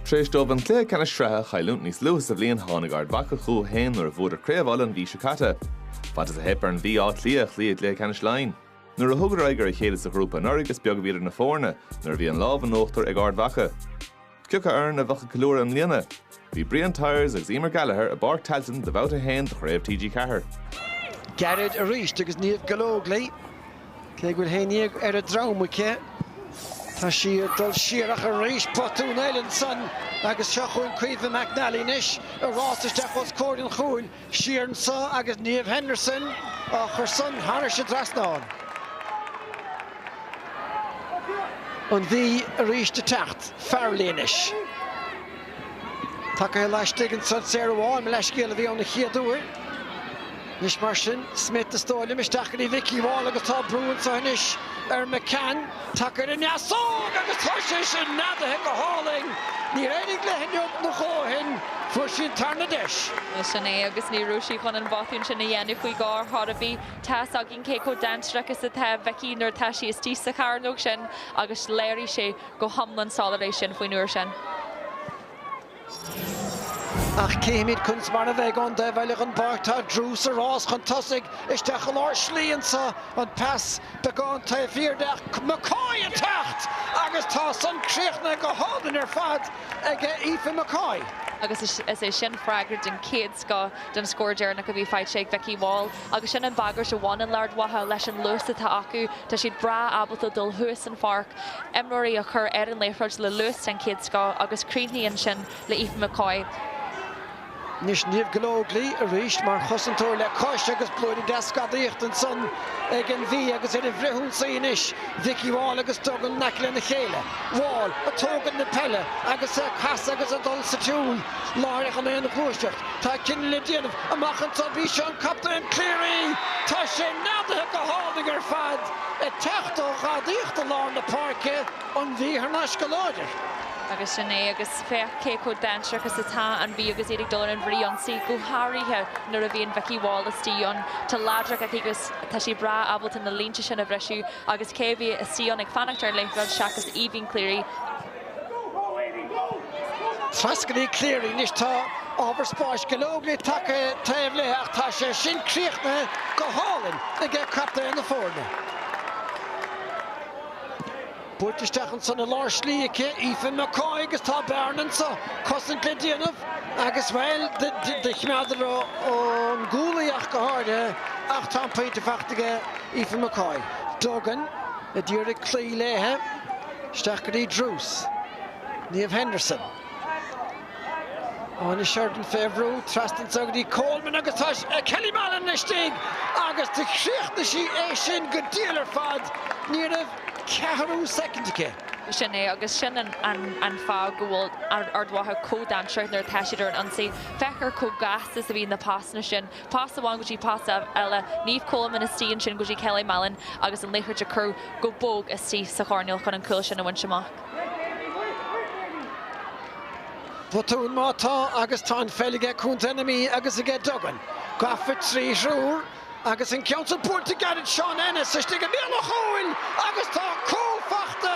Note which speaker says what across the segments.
Speaker 1: Tar éis dóibh an cluiche ceannais sraithe a chailliúint níos luaithe sa bhliain, tháinig Ard Mhacha chucu féin nuair a bhuadar Craobh Uladh an mhí seo caite. Fad is a theip ar an Mhí, Áth Cliath a chloí i gcluiche ceannais Laighean. Nuair a thugadar aghaidh ar a chéile sa ghrúpa anuraidh, is beag a bhí idir na foirne nuair a bhí an lámh in uachtar ag Ard Mhacha. Cé acu foireann a bheadh ag ceiliúradh i mbliana? Bhí Brian Tyers agus Eimear Gallagher i bPáirc Tailteann do bhabhta a haon de Chraobh TG4. Gairid arís agus Niamh Gallogly, cé go bhfuil haon ndéag ar a droim aici, tá sí ag dul siar ach arís botún eile ansan agus seo chugainn Caoimhe McNally anois i rás isteach os comhair an chúil. Siar anso agus Niamh Henderson á chur san thairis an dtrasnán. An Mhí arís ag teacht. Farrelly anois. Tacaithe laistigh anso, Sarah Wall, mo leathscéal, a bhí ann an chéad uair. Anois mar sin, Smyth is dóigh liom, isteach go dtí Vikki Wall agus tá brú anso anois ar McCann. Tacair an easóg agus tá sé sin neadaithe go hálainn. Níor éirigh léi neomat nó dhó ó shin, fuair sí an tarna deis. Nó sin é agus ní raibh sí chun an botún sin a dhéanamh faoi dhó ar chor ar bith. Tá's againn cé chomh dainséarach is atá Vikki nuair atá sí istigh sa cheithearnóg sin agus léirigh sé go hiomlán soiléir é sin faoin uair sin. Ach cífimid conas mar a bheidh ón dtaobh eile den bpáirc. Tá Druse ag rás chun tosaigh isteach i lár slí anseo. An pas beagán taobh thiar de ach McCoy ag teacht agus tá san críochnaithe go hálainn ar fad aige Aoife McCoy. Agus is é sin freagra den chéad scoth don scór deireanach a bhí faighte ag Vikki Wall. agus sin an bhagairt a bhaineann le Ard Mhacha leis an luas atá acu, tá siad breá ábalta dul thuas an pháirc, imreoirí a chur ar an liathróid le luas den chéad scoth agus críochnaíonn sin le Aoife McCoy. Anois Niamh Gallogly arís mar chosantóir le cois agus blúirín deas gadaíochta ansan ag an Mhí agus ar an bhfrithionsaí anois Vikki Wall agus Duggan in aice lena chéile. Wall ag tógaint na peile agus ag casadh agus ag dul sa tsiúl. Láithreach i mbéal na gluaiseacht, tá cinneadh le déanamh amach anseo. B'í seo an captaen Cleary, tá sé neadaithe go hálainn ar fad, ag teacht ó ghadaíocht i lár na páirce, an Mhí thar n-ais go láidir. Agus sin é, agus féach cé chomh dainséarach is atá an Mhí agus iad ag dul ar an bhfrithionsaí, go háirithe nuair a bhíonn Vikki Wall istigh ann. Tá láidreacht aici agus tá sí breá ábalta na línte sin a bhriseadh agus cé a bhí istigh ann ag fanacht ar an liathróid seachas Aoibhín Cleary. Trasna go dtí Cleary anois. Tá ábhar spáis, Gallogly ag tacú taobh léi ach tá sé sin críochnaithe go hálainn ag captaen na foirne. Buailte isteach ansan i lár slí chuig Aoife McCoy agus tá bearna anseo cosaint le déanamh agus, bhuel, do chimeádadar ón gcúl í ach go háirithe ach tá an pointe faighte aige Aoife McCoy. Duggan a d'iarraidh cloí léithe. Isteach go dtí Druse. Niamh Henderson. Áine Sheridan fé bhrú, trasna anso go dtí Coleman agus tá Kelly Mallon istigh agus do chríochnaigh sí é sin go diail ar fad, ní raibh ceathrú soicind aici. Sin é agus sin an fáth go bhfuil Ard Mhacha chomh dainséarach nuair atá siad ar an ionsaí. Féach ar chomh gasta is a bhí na pasanna sin pas amháin go dtí pas eile, Niamh Coleman istigh ansin go dtí Kelly Mallon agus an liathróid a chur go bog istigh sa choirnéal chun an cúl sin a bhaint amach. Botún má tá agus tá an pheil aige contae na Mí agus aige Duggan gafa trí thriúr agus an ceann seo buailte gairid Shauna Ennis istigh i mbéal an chúil agus tá cúl faighte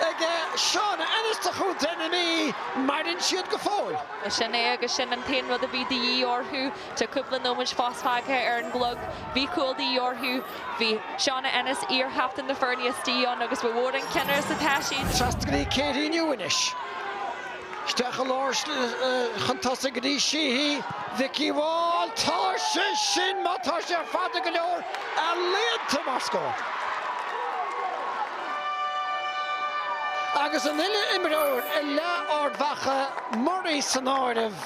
Speaker 1: aige Shauna Ennis do chontae na Mí, maireann siad go fóill. Sin é agus sin an t-aon rud a bhí de dhíth orthu. Tá cúpla nóiméid fós fágtha ar an gclog. Bhí cúl de dhíth orthu. Bhí Shauna Ennis, iarchaptaen na foirne, istigh ann agus ba mhór an cinneadh is atá siad. Trasna go dtí Katie Newe anois. Isteach i lár chun tosaigh go dtí Sheehy. Vikki Wall. Tá sé sin, má tá sé fada go leor, ealaíonta mar scór. Agus an uile imreoir i leath Ard Mhacha, Murray san áireamh,